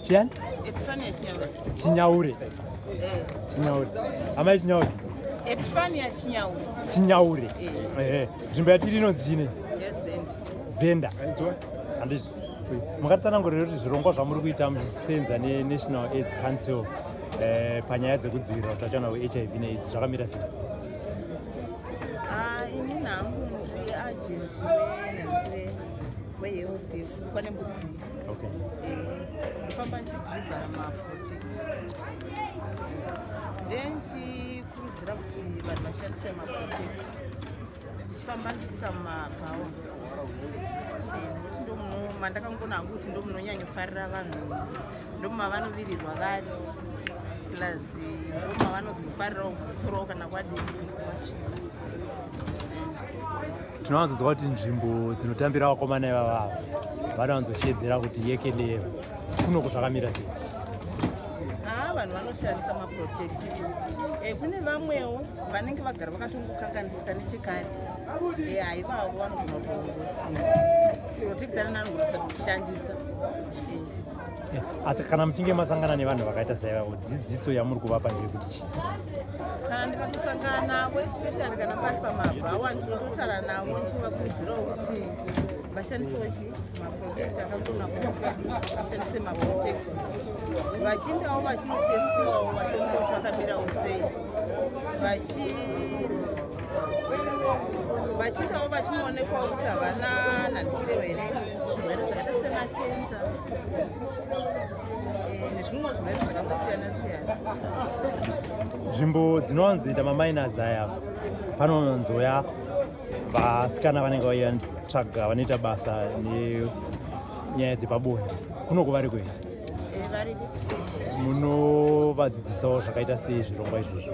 Chian? Epifania Chinyaure. Chinyaure. Eh. Chinyaure. Amai Chinyaure. Epifania Chinyaure. Chinyaure. Eh. Eh. Nzvimbo yatiri inonzi chine? Yes, Zenda. Zenda. Aitwa. Anditi. Makatsanangurira kuti zvirongwa zvamuri kuita muchisenza neNational AIDS Council eh, panyaya dzekudzivirira utachiona hweHIV neAIDS zvakamira sei? Ah, ini nangu ndiri agent wehelp kwane mbudzi okay. Eh, ndofamba ndichidrivhara maprotect then chikurudzira kuti vanhu vashandise maprotect ndichifamba ndichiisa mumabhawa eh, nekuti ndomuno mandakangona hangu kuti ndomunonyanyofarira vanhu ndomavanovirirwa vari plus ndomavanozofarirawo kuzotorawo kana kwadii tinowanzonzwa kuti nzvimbo dzinotambira vakomana ivava vanowanzoshedzera kuti yekeleva kunoko zvakamira sei haa vanhu vanoshandisa maprotect e, kune vamwewo vanenge vagara vakatongokanganisika nechekare e, haivavo vanogona kuongotsira protect ananogona kusati kushandisa e. asi kana muchinge masangana nevanhu vakaita saivavo dzidziso yamuri kuvapa ndeyekuti chii kana ndikatosangana navo especially kana pari pamabhawa ndinototara navo ndichivakurudzirawo kuti vashandisewo chi maprotect akatona vashandise maprotect vachindawo vachinotestiwawo vachionea kuti vakamirawo sei vachi vachindawo vachinoonekwawo kuti havana nhandikire here zvirwere zvakaita semakenza nzvimbo dzinowanzi ita maminas aya panonzouya vasikana vanenge vaiya tsvaga vanoita basa nenyaya dzepabonde kunoko vari kuenda eh, munovadzidzisawo zvakaita sei zvirongwa izvozvo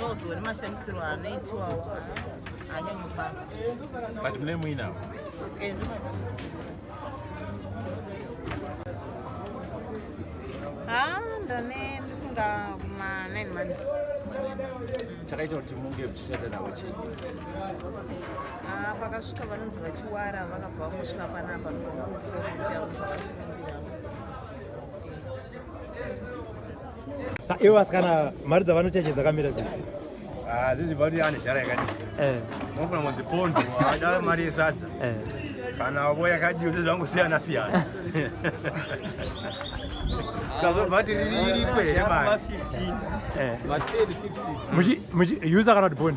sodzo nemashandisirwo anoitiwawo anyanyofamba but mune muinawo eh, ha ndane ndifunga kuma 9 months chakaita kuti munge muchishanda navo chii ah, pakasvika vanonzi vachiwara vakabva vamusvika panapa ndokumusoro kuti ivo vasikana mari dzavanocheche dzakamira zii ah, zvezvibati ane zhara yakadii eh. unogona kunzi pondo ada mari yesadza eh. kana vo yakadii zvezvangosiyana siyana kazovati riri iriko here mari eh. user kana kuti bond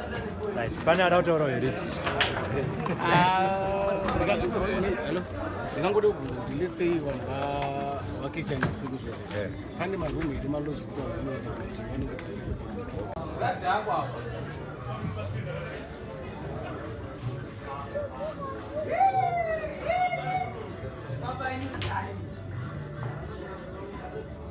pane ada kutaura heriti ndingangode kubvunza kuti lesei vanhu vakechanya usiku zvo eh. pane marumu here maloji kuti vanhu vanoenda kuti vanenge pese pese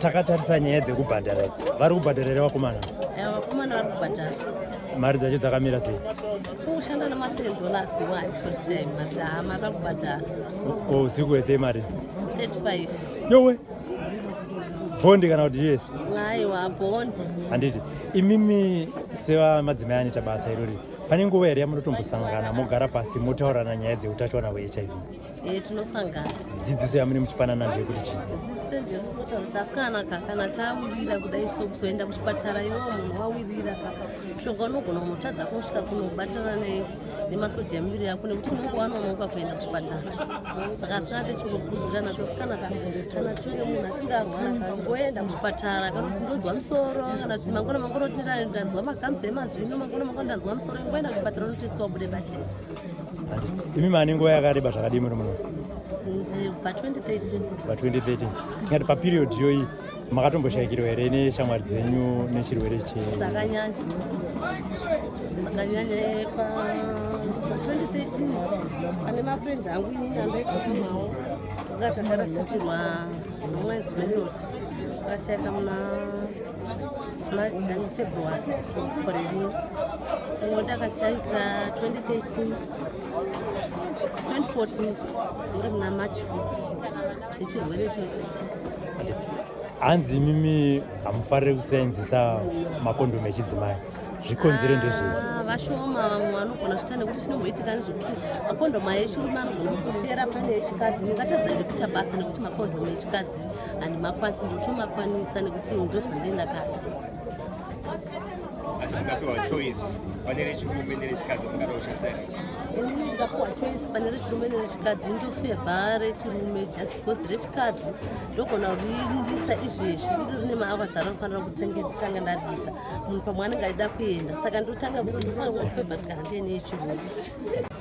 takatarisa nyaya dzekubhadhara idzi vari kubhadhara here vakomana eh, vakomana vari kubhadhara mari dzacho dzakamira sei sokushanda nematen dollars wani forisei mari haa mari vari kubhadhara ko usiku wese mari 35 yowe bondi kana kuti yes aiwa bondi handiti imimi sevamadzimai anoita basa irori pane nguva here yamunotombosangana mogara pasi motaurirana nyaya dzeutachiwana hwehiv Eh, tinosangana dzidziso yamune muchipanana ndeyekuti chii dzidziso ndeyekuti asikana ka kana tawirira kudai so kuzoenda kuchipatara iwo munhu wawirira ka mushonga unogona kunotadza kunosvika kunobatana nemasoja emiviri yako nekuti unenge wanonoka kuenda kuchipatara saka asikana techingokurudzirana tosikana ka kana tinge munhu achinge arwara ka ngoenda kuchipatara kana kuti ndonzwa musoro kana kuti mangona mangona kuti ndanzwa makamzi emazino mangona mangona ndanzwa musoro ngoenda kuchipatara unotesitiwa bude bachena imi mane nguva yakareba zvakadii muri muno pa 2013 tingati paperiod iyoyi makatomboshayikirwa here neshamwari dzenyu nechirwere chedzakanyanya eh, pa 2013 pane mafriend angu inini andoita semawo akatangarasikirwa nomwezi wenoti akashayika muna majani february gore rino umwe ndakashaikira 2013 2014 uri muna march fut ichirwere ichochi hanzi imimi hamufarire kusenzisa makondomu echidzimai zvikonzere ndezvei ah, vashoma vamwe vanogona zvita nekuti chinomboitika nezvekuti makondomu aeshurume anogona kupera pane echikadzi ndingatadza here kuita basa nekuti makondomu echikadzi makwatsi and makwatsi ndotomakwanisa nekuti ndozvange ndakada asi mukapiwa choice pane rechirume nerechikadzi mungada kushandisa ri ini ndakapiwa choice pane rechirume nerechikadzi ndofevha rechirume just because rechikadzi ndogona kuriindisa izvezvi iri rine maavasa ranofanira kutenge nditanga ndarisa munhu pamwe anenge aida kuenda saka ndotanga ndofanira kufevha ndikahande neechirume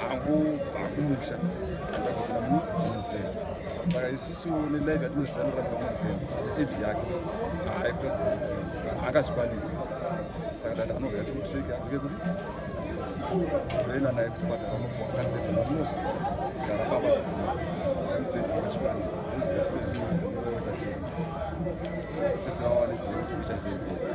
hangu vakumusha ndakapinda mumuzera saka isusu nelife yatinozivanira pamuzera eji yake haikuratidza kuti angazvikwanisi saka tati anovera timutriki atoke kudi toenda naye kuchipatara nokuakatsebno gara baba amusei angazvikwanisi oziva seizongoita sei pese vawane chirwere chekuita vhembezi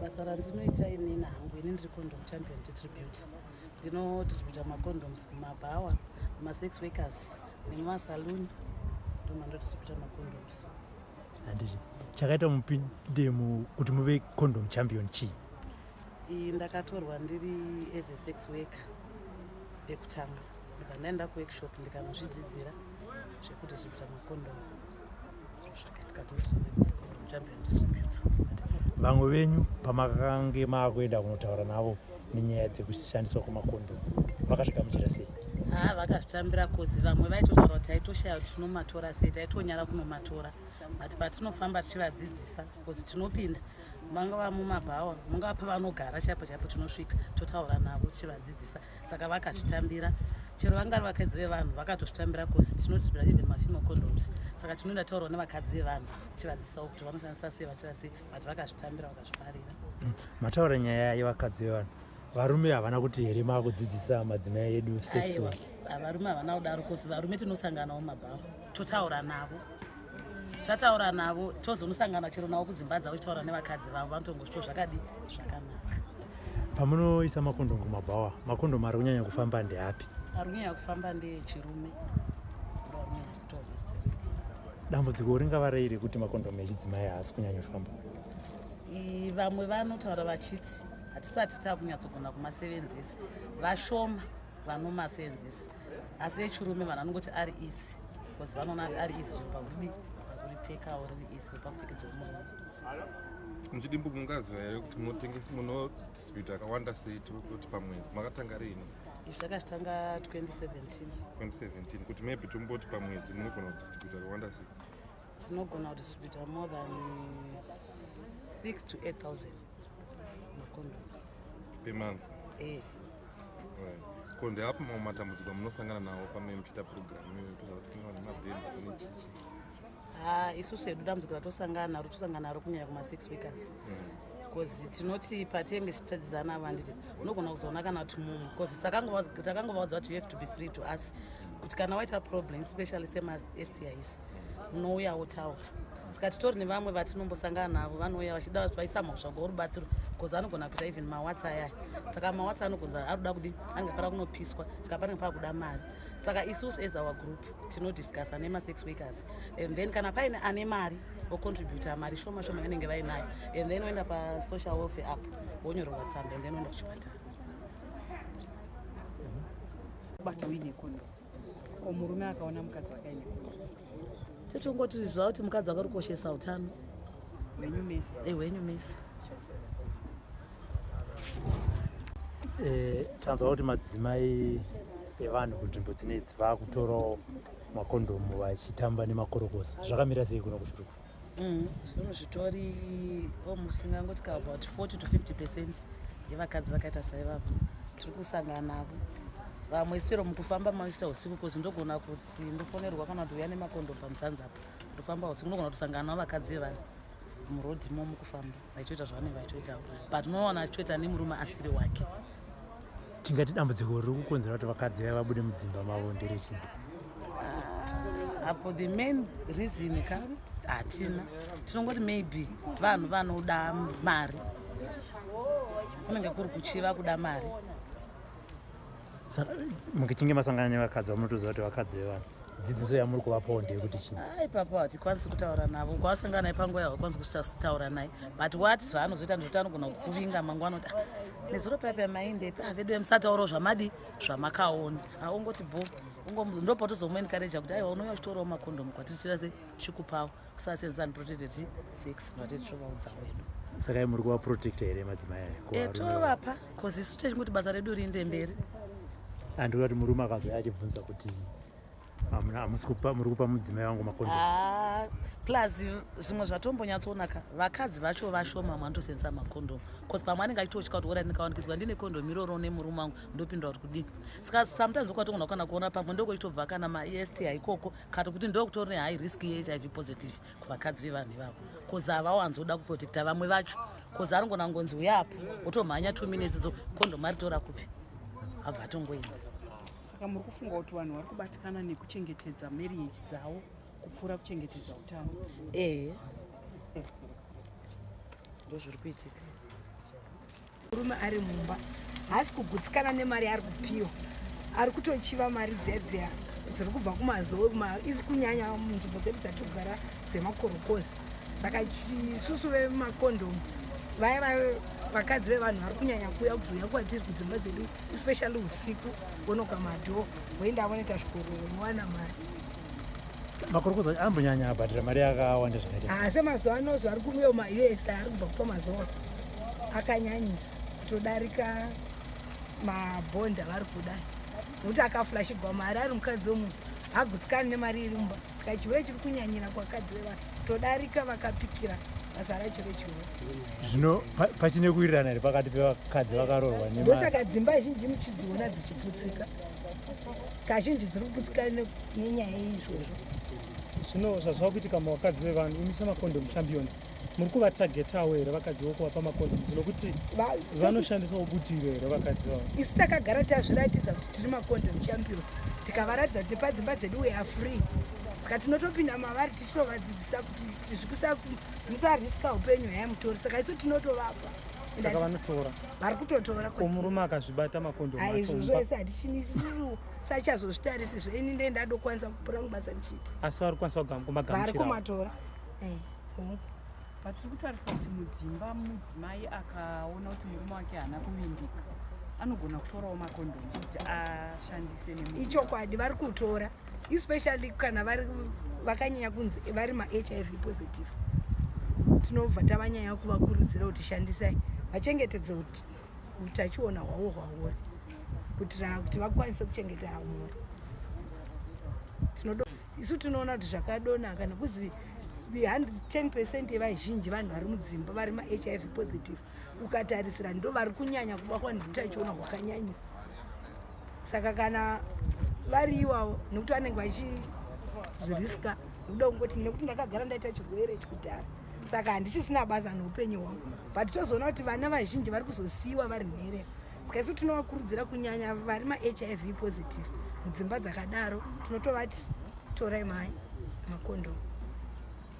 basa randinoita inini hangu ini ndiri condom champion distributor ndinodistributa macondoms kumabhawa masex workers nemasaluni ndomandodistributa macondoms handiti chakaita mupinde kuti muve condom champion chii iyi ndakatorwa ndiri as a sex worker ekutanga ndikandaenda kuworkshop ndikanozvidzidzira zvekudistributa macondomu vamwe venyu pamakange maakuenda kunotaura navo nenyaya dzekushandiswa kwemakondo vakazvigamuchira sei haa ah, vakazvitambira kozi vamwe vaitotaura kuti taitoshaya kuti tinomatora sei taitonyara kunomatora but patinofamba tichivadzidzisa kozi tinopinda mangava mumabhawa mungava pavanogara chaipo chaipo tinosvika totaura navo tichivadzidzisa saka vakazvitambira chero vangari vakadzi vevanhu vakatozvitambira cause tinoti zvira even mafimo condoms saka tinoenda taurwa nevakadzi vevanhu tichivadzisawo kuti vanoshandisa sei vachira sei but vakazvitambira vakazvifarira mm. mataura nyaya yevakadzi vevanhu varume havana kuti here maakudzidzisa madzimai edu sex varume havana kudaro cause varume tinosanganawo mabhawa totaura navo tataura navo tozonosangana chero navo kudzimba dzavo chitaura nevakadzi vavo vanotongosvito zvakadi zvakanaka pamunoisa makondomu kumabhawa makondomu ari kunyanya kufamba ndeapi ari kunyanya kufamba ndeechirume dambudziko ringava rei rekuti makondomu echidzimai haasi kunyanya kufamba vamwe vanotaura vachiti hatisati tava kunyatsogona kumasevenzesa vashoma vanomasevenzesa asi echirume vanhu vanongoti ari isi bcause vanoona kuti ari isi zviri pakudii pakuripfekawo riri isi pakupfekedza womurume muchidimbu mungaziva here kuti munotengesa munodispute akawanda sei tikuti pamwe makatanga riini izvi takazvitanga 2017 2017 kuti maybe tomboti pamwedzi munogona kudistribute akawanda sei tinogona kudistribute more than 6 to 8000 per month eh. right. ko ndeapo mamwe matambudziko amunosangana nawo pamene muchiita purogiramu iyoyo kuita kuti kune vane mabhemba kune chichi ha isusu hedu dambudziko ratosangana naro tosangana naro kunyanya kuma6 weekers bcause mm. tinoti patenge tichitadzidzana ava handiti unogona kuzoona kana kuti mumwe bcause takangovaudza kuti you have to be free to us kuti kana waita problem especially semastis unouya wotaura saka titori nevamwe vatinombosangana navo vanouya vachida vaisa mhosva gorubatsiro bcause anogona kuita even mawatsa ayaya saka mawatsa anogonza ari kuda kudi anenge afara kunopiswa saka panenge pakuda mari saka isusu as our group tinodiscussa nemasex wakers and then kana paine ane mari ocontributa mari shoma shoma yanenge vainayo and then oenda pasocial welfare app wonyorerwa tsamba and then oenda kuchipatara kubata uine kondo ko murume akaona mukadzi wake aine totongoti ziva kuti mukadzi wake rikoshesa utano hwenyu mese eh, hwenyu mese eh, tanzwa kuti madzimai evanhu kunzvimbo dzinedzi vakutorawo makondomu vachitamba nemakorokosa zvakamira sei kuno kushurukuru Mm, zvinhu zvitori almost ingangoti ka about 40 to 50 percent yevakadzi vakaita saivavo tiri kusangana navo vamwe sero mukufamba maichita usiku kozi ndogona kuti ndofonerwa kana kuti uya nemakondo pamusanzi apo ndofamba usiku ndogona kutosangana navo vakadzi vevana muroad mo mukufamba vaitoita zvavanenge vaitoitawo but unoona achitoita nemurume asiri wake tingati dambudziko riri kukonzera kuti vakadzi vaya vabude mudzimba mavo ndere chii ah, apo the main reason ka hatina tinongoti maybe vanhu vanoda mari kunenge kuri kuchiva kuda mari mukichinge masangana nevakadzi vamunotoziva kuti vakadzi vevanhu dzidziso yamuri kuvapawo ndeyekuti chii a ipapo hatikwanisi kutaura navo kwavasangana naye panguva yaho kwanisi kutaura naye but wat zvaanozoita ndizvoti anogona kuvinga mangwana kuti ah, nezuro paipa maindepi avedu ah, vemusataurawo zvamadi zvamakaona aungoti ah, bo ndopotozomuenkareja kuti aiwa unouya uchitorawo makondomu kwatichira se chikupawo kusasenzesa ni protected sex vatete tovaudza wedu saka muri kuva protecta here madzimai ayo eh, tovapa bcause isu techingoti basa redu riinde mberi andikuda kuti murume akazouya achibvunza kuti muri kupa mudzimai wangu makondo ah, plus zvimwe zvatombonyatsoonaka vakadzi vacho vashoma mwanotosenzesa makondomu bcause pamwe anenge achitotya kuti ora ndikawanikidzwa ndine kondomu iroro nemurume wangu ndopindura kuti kudii saka sometimes okwatongona kukana kuona pamwe ndokoitobva kana maesti haikoko kati kuti ndokutori nehigh risk yehiv positive kuvakadzi vevanhu ivavo bcause havawanzoda kuprotecta vamwe vacho bcause aringona ngonzi uya apo otomhanya two minutes dzo kondom aritora kupi abva atongoenda saka muri kufunga kuti vanhu vari kubatikana nekuchengetedza marriage dzavo kupfuura kuchengetedza utano ehe ndozviri kuitika murume ari mumba haasi kugutsikana nemari yaari kupiwa ari kutochiva mari dziya dziya dziri kubva kumazowe izi kunyanya munzvimbo dzedu dzatogara dzemakorokozi saka isusu vemakondomu vaya vaya vakadzi vevanhu vari kunyanya kuuya kuzouya kwatiri kudzimba dzedu especially usiku vonoka madhoo voenda vanoita zvikororo vowana mari makorokoza ambonyanya abhadhira mari yakawanda zvakaita ah, asi mazuva ano zvari kuuya maus ari kubva kupa mazuva akanyanyisa kutodarika mabhondi avari kuda nokuti akaflashigwa mari ari mukadzi wemunhu agutsikani nemari iri mumba saka chihure chiri kunyanyira kwakadzi vevanhu todarika vakapikira basa racho rechihure zvino pachine kuwirirana here pakati pevakadzi vakarorwa ndosaka dzimba zhinji muchidziona dzichiputsika kazhinji dziri kugutsikana nenyaya yeizvozvo zvino zvazvava kuitika mavakadzi vevanhu imi semacondom champions muri kuvatagetawo here vakadzi vokuvapa macondom zvino kuti vanoshandisawo butiro here vakadzi vavo isu takagara tazviratidza kuti tiri macondom champion tikavaratidza kuti nepadzimba dzedu we are free saka tinotopinda mavari tichitovadzidzisa kuti kuti zvikusa musariska upenyu haya mutori saka isu tinotovapa saka vanotora vari kutotora ko murume akazvibata makondo aizvozvo ese hatichinisiru sachazozvitarisi zve ini ndee ndadokwanisa kupura mubasa ndichiita asi vari kukwanisa kugamagama vari kumatora eh, vatiri kutarisa kuti mudzimba mudzimai akaona kuti murume wake haana kuvimbika anogona kutorawo makondomu kuti ashandise neichokwadi vari kutora especially kana vari vakanyanya kunzi vari mahiv positive tinobva tavanyanya kuvakurudzira kuti shandisai vachengetedze kuti utachiona hwavo hwauri kuitira kuti vakwanise kuchengeta mhuri tinodo isu tinoona kuti zvakadonaka nekuzi 10 percent yevazhinji vanhu vari mudzimba vari mahiv positive ukatarisira ndo vari kunyanya kuba kwani kutachiona kwakanyanyisa saka kana vari iwavo nekuti vanenge vachizviriska nekuda kungoti nekuti ndakagara ndaita chirwere chikudhara saka handichisina basa noupenyu hwangu but tozoona kuti vana vazhinji vari kuzosiyiwa vari nherera saka isu tinovakurudzira kunyanya vari mahiv positive mudzimba dzakadaro tinotovati torai mai makondomu